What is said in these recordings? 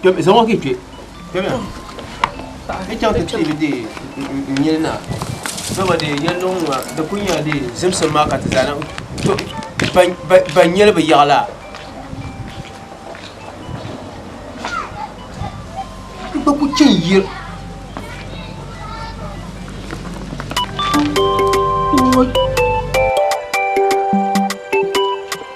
kpɛm zaŋ o kii kpɛ kpɛmiya ni chaŋ ti tiibi de n nyini na dama de yɛli luŋ ŋɔ di ku nyɛla de zimsim maa ka ti zaa niŋ to ban nyɛli bi yaɣa la n gba ku chɛn yir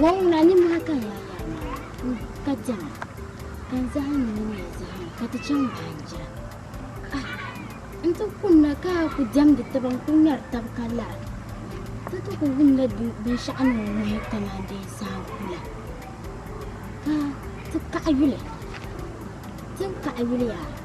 Wɔŋuna ninmohi ka n lahi yɛri ma ni, ka dɛma, ka n zahim ni mini ya zahima, ka ti chaŋ baanjira. Ah, n ti kumda ka a ku dɛmdi taba n-kul ŋmɛri tab ka lara. Ti ti ku wumla binshɛɣu ni o ŋuhi kaman dee saha ku la. Ka ti kaɣi yuli. Ti ni kaɣi yuli yaa.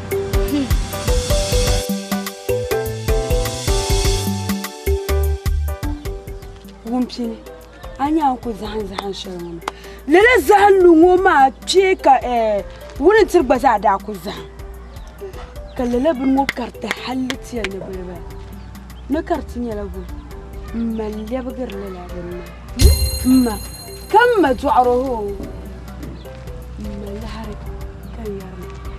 Wumpini a nya n ku zahim zahim shɛli ŋɔ mi lala zahim lu ŋɔ maa kpɛ ka wuni tiri gba zaa daa ku zahim ka lala bini ŋɔ kariti halli ti yɛli ni bɛ di bala ni kariti nyɛla bɛ m ma n lɛbigiri lala bini maa m ma ka m ma dɔɣiro hoo m ma liɣiri ka yɛri ma.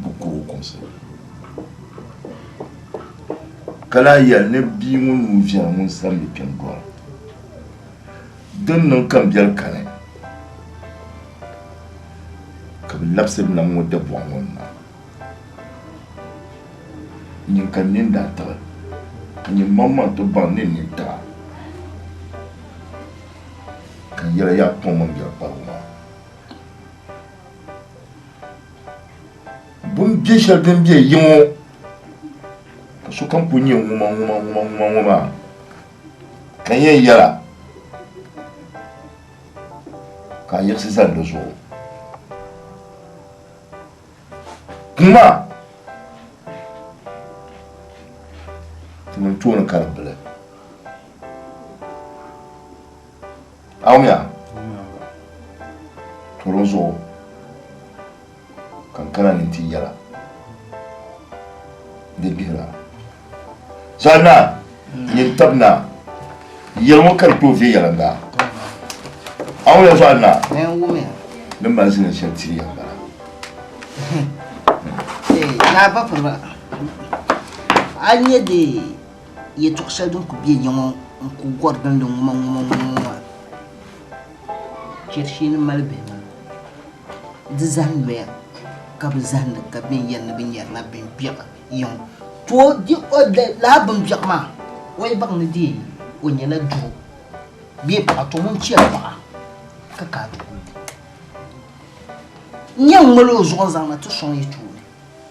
bɛ kuri o kumsi ni. Ka lahi yɛli ni bia ŋun nuu viɛli ŋun sani bi kpɛm dɔɣi o. Din niŋ ka m biɛli kani ka bɛ labisiri nam ŋɔ dabɔɣu ŋɔ ni maa. Nyin ka n nini daa tiɣi ka nyin maŋmaŋ ti baŋ ni n nini tiɣa ka n yɛla yaa kpaŋ mini biɛri kparigu maa. Bin bɛ shɛli din bɛ yiŋo ka sokam ku nyɛ ŋuma ŋuma ŋuma ŋuma ŋo maa ka yɛn yɛla ka a yiɣisi zani di zuɣu ŋuma ti mini tooni karimbili Awumya turin zuɣu kan kana ni ti yɛla ni gbihira zaɣ naa yin tab naa yɛli ŋɔ ka di tooi viɛ yɛla daa awumya zuɣu naa ni mali zini shɛli ti yɛla bala naa ba firiba a nyɛ dee Yɛtɔɣ shɛli din ku be ya ŋɔ n-ku gɔri gindi ŋumaŋumaŋumaŋuma. Chɛri shee ni mali bihi maa di zahim noya ka bɛ zahindi ka bɛn yɛli ni bɛ nyarila bimbɛɣu ya ŋɔ tooi di o di lala bimbɛɣu maa o yi baŋ ni deei o nyɛla doo bee paɣa tɔ ŋun chɛri paɣa ka ka ti kuli nya n-ŋmali o zuɣu n-zaŋ na ti sɔŋ yi tooni.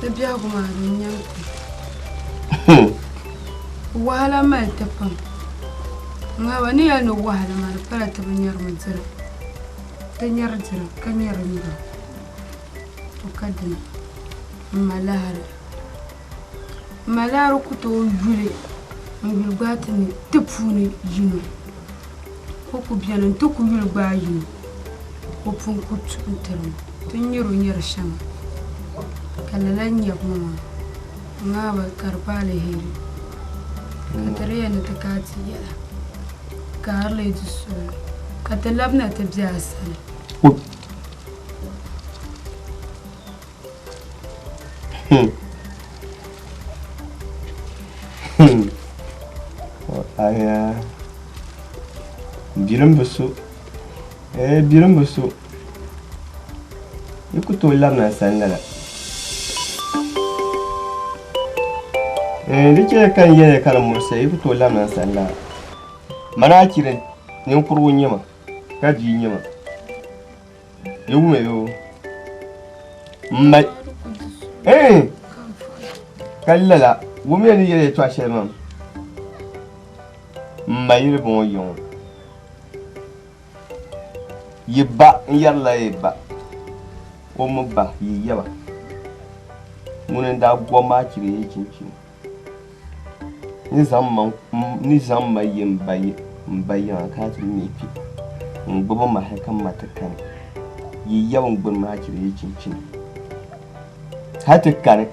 Di biɛhigu maa di n-nyɛ n kpi. Wahala mali ti pam. Ŋariba ni yɛli ni wahala maa di pala ti bi nyari mi dira. Ti nyari dira ka nyari nyura. To ka dina m-ma lahiri. M-ma lahiri ku tooi yuli n-yuli gbaai ti ni ti puuni yino. O ku beni nti ku yuli gbaai yi ni o pun ku tuhi tiri ma ti nyari o nyari shɛŋa, ka lala n-nyab ma maa. N Naawuni, ka di pa aliheri n-niŋ ti di ya ni ti kaai ti yɛla, ka a lee di suhuri, ka ti labina ti be a sani. Hmm. Hmm. Aya. Birim bi so. Eh, birim bi so. Yi ku tooi labina sani lala. Eh, di chɛya ka n yɛliya ka di murisi yi ku tooi labina sani lala. Mana a chiri ninkurigu nyɛ ma ka bia nyɛ ma. Di wumɛ yo. M ma eh ka lala wumɛ ni yɛli yɛtɔɣa shɛli mam. M ma yili bɔŋɔ yiŋɔ. Yi ba n-yɛrila yi ba o mi ba yi yaba. Ŋuni n-daa gɔm maa chiri yi chinchini. Ni zaŋ ma yi m ba yiŋa ka ti mi kpi, n gbibi ma hal ka ma ti kani, yi yab n gburi ma chiri yi chinchini hal ti kani,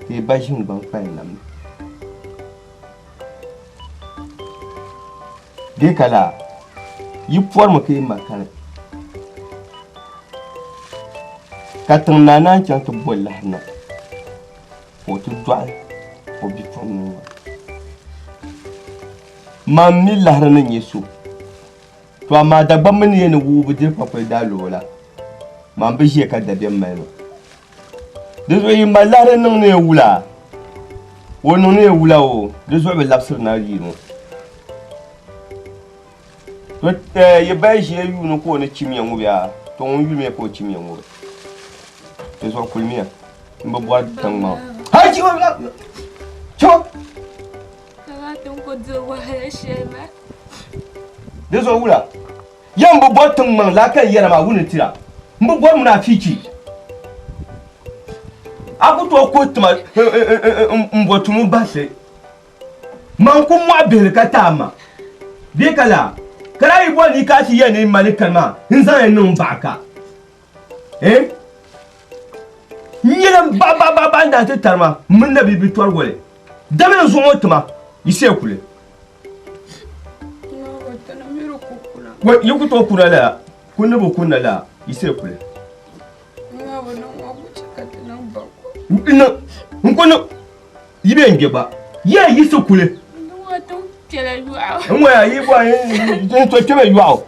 ka yi ba ʒini gbaŋ kpali nam ni. Di ka laa, yi pɔrimi ka yi ma kani, ka tiŋ naa naan chaŋ ti bo lahi na. Ka o ti dɔɣi o bipuɣiŋ ŋɔ. Mam mi lahiri ni nya so, tɔ amaa Dagbamba mini ya ni wuhi bi diri kpakpali daa luɣu la, mam bi ʒiya ka dabiɛm mali ma. Dinzuɣu yi mali lahiri niŋ ni ya wula? O niŋ ni ya wula o, dinzuɣu bi labisiri na yi ŋɔ. Yi baya ʒiya yuuni ka o ni chimiya ŋɔ bɛ a tɔŋ n yumiya ka o chimiya ŋɔ bɛ ti zuɣu kulimiya n bi bɔri tiŋmaŋ hali chibo bila chibo di zuɣu wula ya n bi bɔri tiŋmaŋ laa ka n yɛra maa wuni tira n bi bɔri munaafichi a ku tooi kuri tima n bɔ tumu bahisi Man ku mɔɣi bihili ka taai ma, bee ka laa ka daa yi bɔri ni yi ka ti ya ni mali kani maa n-zaŋ ya niŋ baɣa ka, eh? N nyɛla m baɣibaɣibaɣibaɣi n-daa ti tari ma mini na bibi tɔri wali dama n zuɣu ŋɔ ti ma yi siya kuli. Wai yi ku tooi kuna lala, ku ni bi kunna laa yi siya kuli. N ku niŋ. Yi bɛ n gbɛ gba. Yaa yi so kuli. N waya yi bɔ n so kpɛmɛ yɔɣu.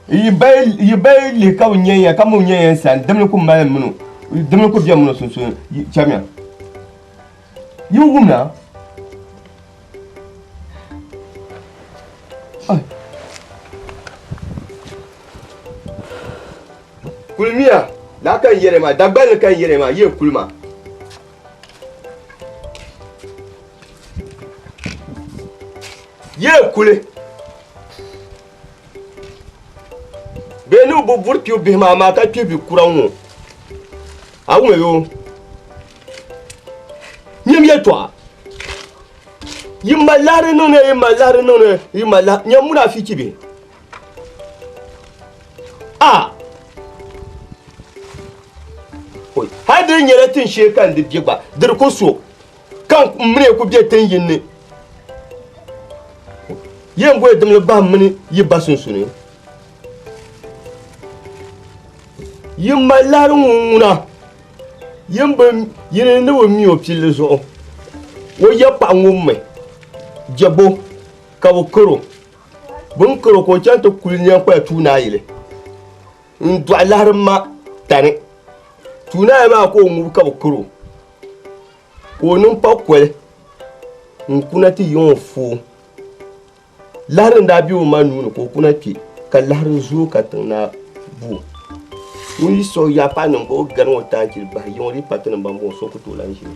Yi bayi lihi ka bi nyɛ ya ka mi nyɛ ya sani dimli ku mali mino dimli ku bɛ mino sunsuuni chɛmiya. Yi wumna. Kulimiya laa ka n yɛli ma Dagbanli ka n yɛli ma yi kuli ma. Yee kuli bee ni o bi buri kpibu bihi maa maa ka kpi bi kura ŋɔ a ŋɔ yo nyim yɛtɔɣa yi mali laɣiri niŋdi yi mali laɣiri niŋdi yi mali laɣiri nyɛ muna fi chibi a oi hali di nyɛla tin shee ka n di bɛ gba diri ku so ka n mini ku bɛ tin yin ni yɛn bɔi dimli bahim mini yi ba sunsuni yi mali lahiri ŋun ŋuna yin bi yini ni bi mi o pilli zuɣu o yɛ paɣa ŋun mi jɛbo ka bi karo Bɛ ni karo ka o chaŋ ti kuli nyaŋ kpaya tuunayili n-dɔɣi lahirim ma tani. Tuunaya maa ka o ŋub ka bɛ karo, ka o niŋ pakoli n-kuna ti yiŋ o foo. Lahiri n daa be o ma nuu ni ka o kuna kpe, ka lahiri zooi ka tiŋ naa bu o. Ŋun yi siɣi ya paɣ niŋ ba o gari ŋɔ taa chili bahi yiŋ o dii pati niŋ ba m-bɔŋɔ so ku tooi lahi ʒini.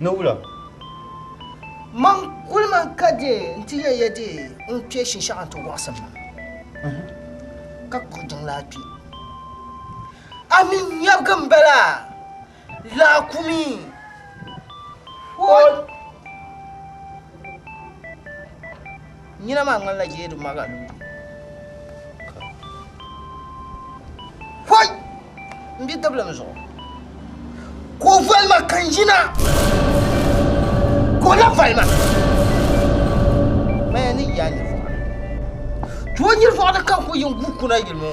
Ni wula? Mam kuli mi ka di nti nya ya di n-kpe shinshɛɣu nti wɔɣisim maa, ka kuri jiŋlaa kpe. A mi nyabigi m-bala, laakumi! Hoi! Nyina maa ŋmanila jeedu maga loori. Hoi! M be dibilim zuɣu. Ka o voli ma ka n yina. Ka o lahi voli ma. Maya ni yaa nyirivɔɣu ni. Ka o nyirivɔɣu ni ka n ku yi n guui kuna yili ŋɔ.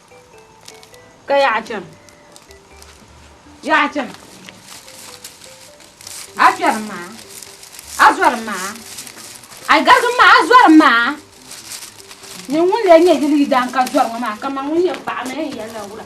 Ka yaa a chani. Yaa a chani. A kpɛri maa. A zɔri maa. A garigu maa a zɔri maa. Ni ŋun lee nyɛ yili yidaan ka zɔri ŋɔ maa kaman ŋun yɛn paɣi mi n yɛli la wula.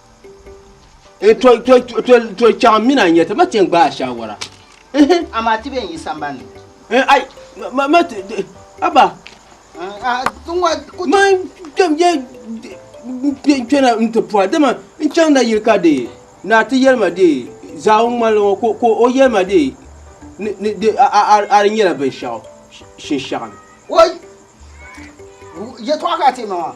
Eh, to, to, to, to, to chaŋ n mina n nyɛti ma ti n gbaai shaawara. Amaa ti bɛ n yi sambanni. Eh, ai, ma, ma ti, aba. Ma kpɛm yɛ kpɛna n ti pɔra dama n chaŋ na yili ka de naa ti yɛli ma de zaau n ŋmanili ŋɔ ka o yɛli ma de ni, ni, de a, a, a, a di nyɛla binshɛɣu shinshɛɣu ni. Woi, yɛtɔɣa ka a ti ma maa.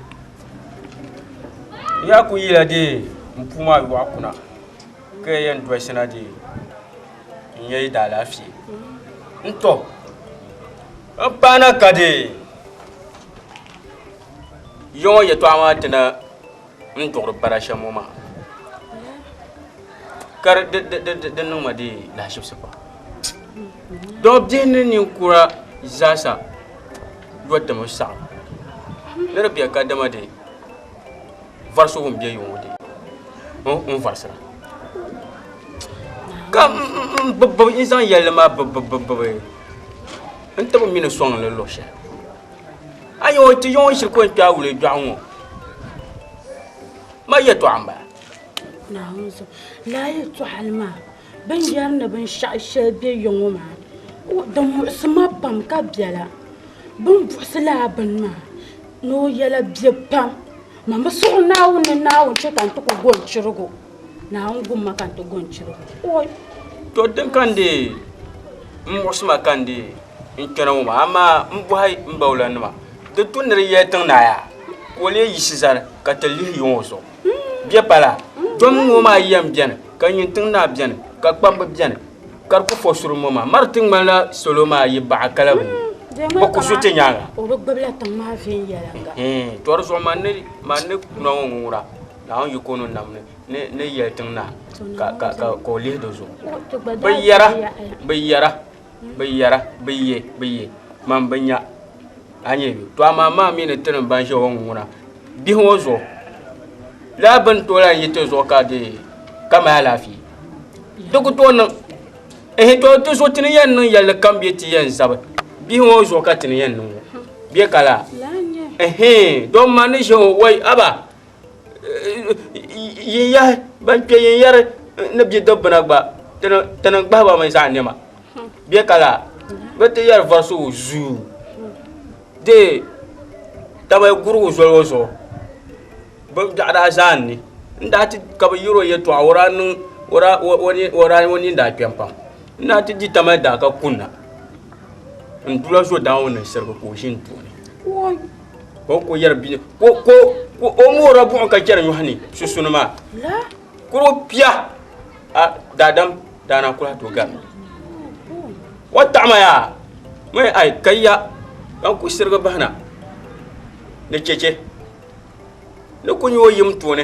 Ya ku yila dee m puu maa yɔɣu kuna ka ya yɛn dɔshina dee n ya yi daalaafee n tɔ n paana ka dee ya ŋɔ yɛtɔɣa maa ti na n duɣiri bara shɛm ŋɔ maa ka di di niŋ ma dee lahaʒibisi pam dɔbbihi ni ninkura zaasa yɔ tim n saɣim ni di bɛ kadama dee varisigu n bɛ yuŋ ŋɔ dee n varisira ka n bibi bibi n zaŋ yɛlli maa bibi bibi bibi n tibi mi ni sɔŋ li luɣi shɛli a yɛn ti yɛn shiri ko n kpɛ a wuli dɔɣu ŋɔ ma yɛtɔɣa n bala. Binyɛri ni binshɛɣu shɛli be ya ŋɔ maa di muɣisi ma pam ka bela bɛ ni buɣisi lala bini maa ni o yɛla be pam man bi suɣi Naawuni ni Naawuni che ka n ti ku gɔŋ chirigu Naawuni gum ma ka n ti gɔŋ chirigu ooy. To din ka n deei m muɣisi ma ka n deei n kpɛna ŋɔ maa amaa m bɔhi m baawulanima di tu ni di yɛli tiŋ naai a ka o leei yiɣisi zani ka ti lihi ya ŋɔ zuɣu. Bɛ pala, dom ŋɔ maa yɛn beni, ka nyin tiŋ naa beni, ka kpambu beni, ka di ku po suri ŋɔ maa. Mari ti ŋmanila salo maa yi baɣa kala bɛ ni, bɛ ku su ti nyaaŋa. O bi gbibila tiŋ maa viɛnyɛliŋga. To di zuɣu man ni kuna ŋɔ ŋuŋura, Naawuni yik o ni nam ni ni yɛli tiŋ naa, ka o lihi di zuɣu. Bɛ yɛra, bɛ yɛra. Bi yɛra, Bi ye, bi ye, man bi nya. A nyɛ bɛ? To amaa maa mi ni ti niŋ ban ʒe o ŋuna bihi ŋɔ zuɣu lala bini tooi lahi yi ti zuɣu ka di ka mali alaafee. Di ku tooi niŋ ehe to ti zuɣu ti ni yɛn niŋ yɛlli kam bee ti yɛn zabi bihi ŋɔ zuɣu ka ti ni yɛn niŋ ŋɔ bee ka laa ehe doo man ni ʒe o wai aba. yin yahi ban kpɛ yin yɛri ni bɛ dobbina gba ti ni gbahiba mi zaɣ nɛma bɛ ka la bɛ ti yɛri vɔri so zuu dee taba gurigu zoli ŋɔ zuɣu bɛ biɛɣu daa zani ni n daa ti ka bɛ yɛri o yɛtɔɣa o daa o nini daa kpɛm pam n daa ti di tamali daa ka kunna n dula zo daa ŋɔ niŋ sirigi ka o ʒini tooni ka o ko yɛri bini ko ko ko o moora buɣum ka chɛri nyɔhi ni susuni maa kuro pia a daadam daana kula to gari o taɣama yaa mai ai ka ya ka ku sirigi bahina ni chɛchɛ ni ku nyɛ o yim tooni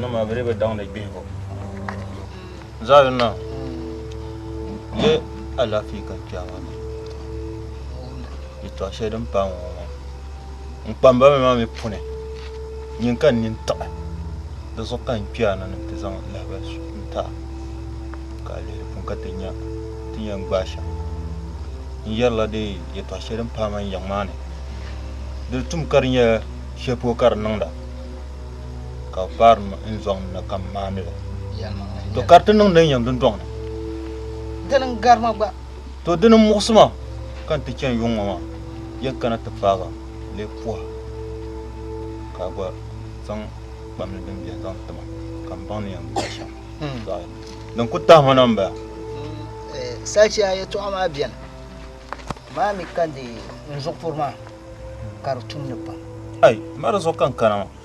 nima bɛ bi daŋdi gbihigu zaayunna ye alaafee ka kpɛawa ni yɛtɔɣ shɛli din paai ŋɔ n kpambami maa mi puuni nyin ka n nini tiɣi di zuɣu ka n kpɛya na ni ti zaŋ lahabali su n taai ka a lihi di puuni ka ti nya ti yɛn gbaai shɛm n yɛrila di yɛtɔɣ shɛli din paai man yiŋ maa ni di tum ka di nyɛla shɛli polo ka di niŋda ka bi paari n zɔŋ ni ka n maanili to ka di ti niŋdi n yɛm dundɔŋ ni dini n garima gba To dini muɣisi ma ka n ti chani yuŋ ŋɔ maa yɛn kana ti paagi lee puha ka a gba zaŋ kpam ni din biɛni zaŋ tima ka n baŋ ni yɛn gbubi shɛm zaɣi din ku tahima na m-bala. Salichiya yɛtɔɣa maa bɛni maa mi kandi n zuɣupuri maa ka di tumdi pam. Ai, ma di zuɣu ka n kana maa.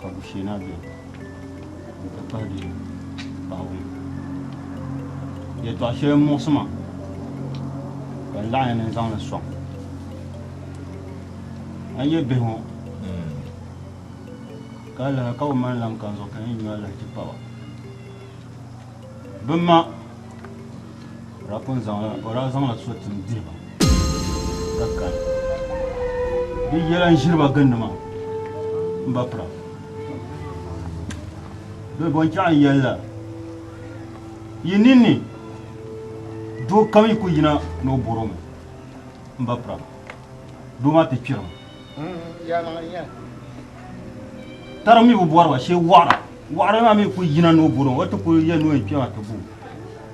ka bushina bɛ n ti pahi di paɣibu yɛtɔɣ shɛli muɣisi ma ka n laɣinya ni n zaŋ li sɔŋ a yɛ bihi ŋɔ ka alaha ka bi mali lan ka n zuɣu ka n yɛn nyu alahichi pa ba Bɛ ma daa pun zaŋla, o daa zaŋla so tim diri ba ka kari di yɛla n-ʒiri ba gindi maa m-ba pira. Bɛ bɔnchɛɣu yɛlila, Yi ninni doo kam yi ku yina ni o bɔr o mi m-ba pira, doo maa ti kpirimi. Taro mi bi bɔri ba shee wɔɣira wɔɣira maa mi ku yina ni o bɔri o ti ku yɛn ni o yɛn kpɛma ti bo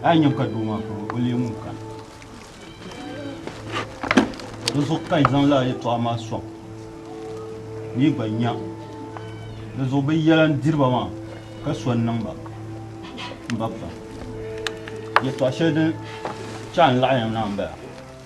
a yi nyam ka doo maa kuri o leemu ka di zuɣu ka yi zaŋ laa yɛtɔɣa maa sɔŋ ni yi gba nya di zuɣu bi yɛla n diri ba maa ka so n niŋ ba n ba pa yɛtɔɣa shɛli din chaa n laɣi yam na n bala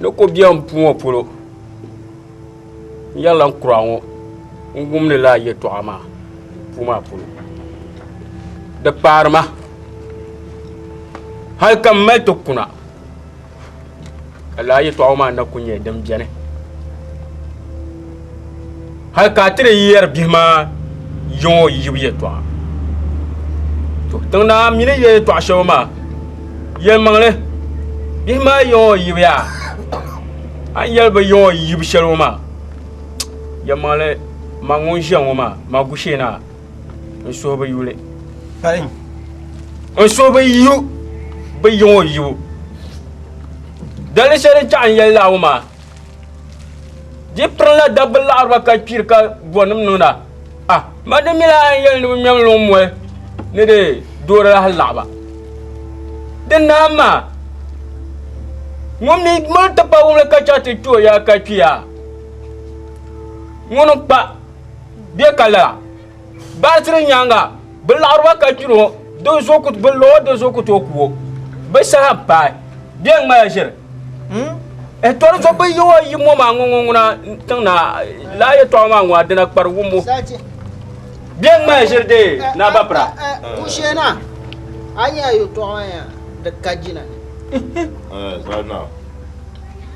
Ni ko biɛɣu puu ŋɔ polo n yɛrila n kura ŋɔ n wumdi laa yɛltɔɣa maa puu maa polo di kpaari ma hali ka n mali ti kuna ka laa yɛltɔɣa ŋɔ maa na ku nyɛ din biɛni hali ka a ti di yɛri bihi maa yiŋɔ yibu yɛtɔɣa to tiŋ naa mi ni yɛ yɛtɔɣa shɛba maa yɛlimaŋli bihi maa yiŋɔ yibu yaa a ni yɛli bi yiŋɔ yibu shɛli ŋɔ maa yɛlimaŋli ma ŋun ʒiya ŋɔ maa ma gushee naa n suhu bi yuli n suhu bi yu bi yiŋɔ yibu dali shɛli n chaɣi n yɛli laa ŋɔ maa Di pirila dabba laɣariba ka kpiri ka bɔnim niŋda. Ah, ma di mila a yɛli ni bi ŋmɛm luŋ moli ni di doori lahi laɣiba. Di naam maa, ŋun mi mali ti pa wumli ka chɛ ti kpi o yaa ka kpiya, ŋuni n-kpa bɛ ka lala? Baatiri nyaaŋa bɛ laɣiriba ka gbiri o, din zo ku bɛ lo o, din zo ku tooi ku o. Bɛ saha m-paai, bɛ yɛn ŋmala ʒiri. Ɛh, tɔri zo bɛ yi o yi mɔ maa ŋɔ ŋuna tiŋ na, lala yɛtɔɣa maa ŋɔ a dina kpari wumbu. Bɛ yɛn ŋmala ʒiri dee, Naa Bapira. Kusheena, a nya a yɛtɔɣa maa yaa di ka jina ni. Ɛh, Zaana.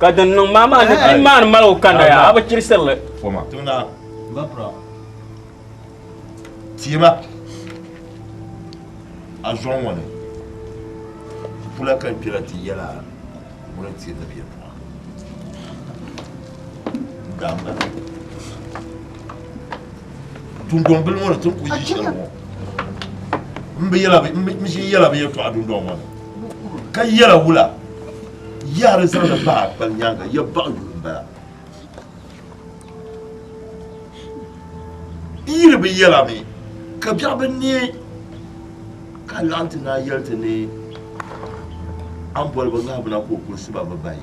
ka din niŋ maa maa ni ti maani mali o kanda ya a bi chirisirili tiɛma a zɔŋ ŋɔ ni pula ka n kpɛla ti yɛla ŋuni ti ni bɛ pɔɣa damba dundɔŋ bili ŋɔ ni ti ku yi shɛli ŋɔ n bi yɛla bi yɛtɔɣa dundɔŋ ŋɔ ni ka yɛla wula yaɣa di zaŋdi bahi akpali nyaanga ya baɣa yuli n bala yili bi yɛla mi ka biɛɣu bi neei ka laɣim ti naa yɛli ti ni an boli bi ŋahibu na ka o kuli siba bi bahi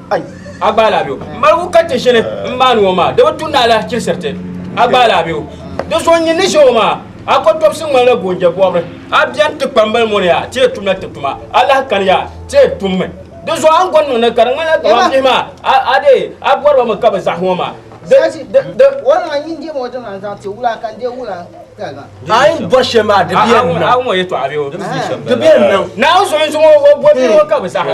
A gbaai laa bɛ o? Maligu ka ti shili n maani ŋɔ maa di bi tu ni alahichilisiriti. A gbaai laa bɛ o? Di zuɣu n yi ni ʒe o maa a kotobisi ŋmanila goonje bɔbiri. A beni ti kpambali mɔni yaa ti yɛn tumla ti tuma a lahi kani yaa ti yɛn tummi. Di zuɣu a ni gɔni niŋdi ka di ŋmanila kamani bihi maa a dee a bɔri ba mi ka bi zahi ŋɔ maa. A yi ni bɔri shɛli maa di bi yɛn niŋ. Naawuni zuɣu n zuŋɔ o bɔbiri ŋɔ ka bi zahi.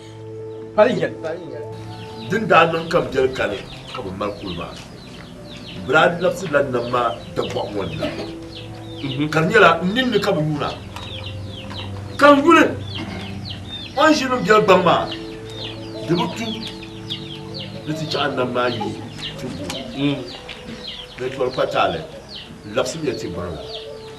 Din daa niŋ ka biɛli kani ka bi mali kuli maa bi daa labisirila nam maa dabɔɣu ŋɔ ni la ka di nyɛla n ninni ka bi yuuna ka n yuli o ni ʒiri biɛli gbaŋ maa di bi tu ni ti chaɣa nam maa yi ti bo ni tɔri kpataali labisimiya ti gbaŋ la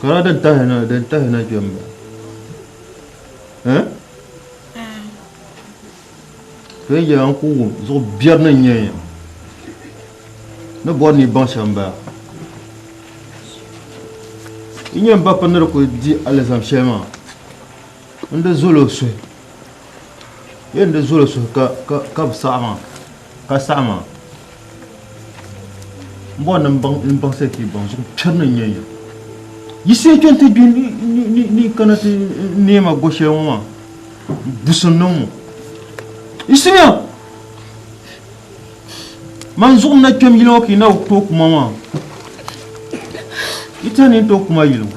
Kana din tahi na din tahi na kpɛm ba. Eh? Kpɛm yɛla n ku wum zuɣu biɛri ni nyɛ ya. Ni bɔri ni baŋ shɛm ba. N nyɛ n ba pa ni di ku di alizam shɛli maa. N di zolo suhi. Yɛn di zolo suhi ka ka ka bi saɣi maa. Ka saɣima n bɔri ni n baŋsi ti baŋ zuɣu piɛri ni nyɛ ya yisi n chɛni ti gbi ni kana ti neema go shɛli ŋɔ maa busim niŋ ŋɔ yisiya man zuɣu na kpɛm yili ŋɔ ka yi na to kuma maa yi tani to kuma yili ŋɔ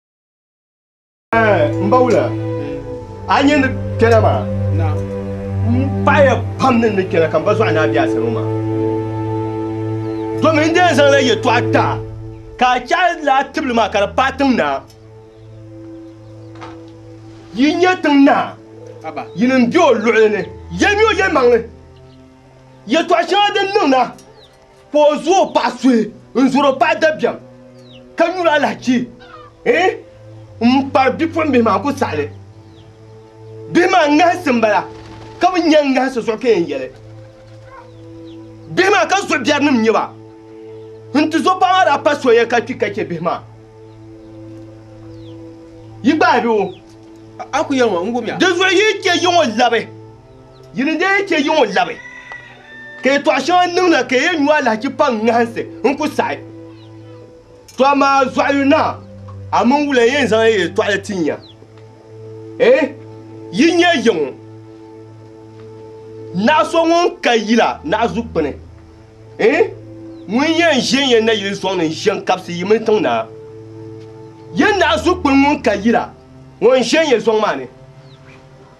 n ba wula a nyɛ ni kpɛna maa n paɣaya pam ni ni kpɛna ka n ba zɔɣu naa bɛ a sani maa domin n dee zaŋla yɛtɔɣa ta ka a chɛhi laa tibili maa ka di paai tiŋ naa yi nyɛ tiŋ naa yini n bɛ o luɣuli ni yɛlimi o yɛlimaŋli yɛtɔɣa shɛŋa din niŋ na Ka o zo o paɣa suhi n-zuri o paɣa dabiɛm ka nyuri alahichi m-pari bipuɣimbihi maa ku saɣili. Bihi maa ŋahisi m-bala ka bi nya ŋahisi zuɣu ka yɛn yɛli, Bihi maa ka zuɣu biɛrinim n-nyɛ ba. N ti zo paɣa maa daa pa soya ka kpi ka chɛ bihi maa yi gbaai bɛ o. Di zuɣu yi chɛ yiŋɔ labi. Yi ni daa chɛ yiŋ o labi, ka yɛtɔɣ shɛŋa n niŋ na ka yɛn nyu alahichi pa n ŋahinsi n ku saɣi. Tɔ amaa zɔɣi yu naa, a mini wula n-yɛn zaŋ ya yɛtɔɣili tin ya? Ɛɛh, yi nya yiŋ naɣ so ŋun ka yila naɣ zu kpini, ɛɛh, ŋun yɛn ʒe n-yɛn na yili sɔŋ ni n-ʒe n-kabisi yi mini tiŋ naa? Yɛn naɣ zu kpini ŋun ka yila ŋɔ n-ʒe n-yɛn sɔŋ maa ni.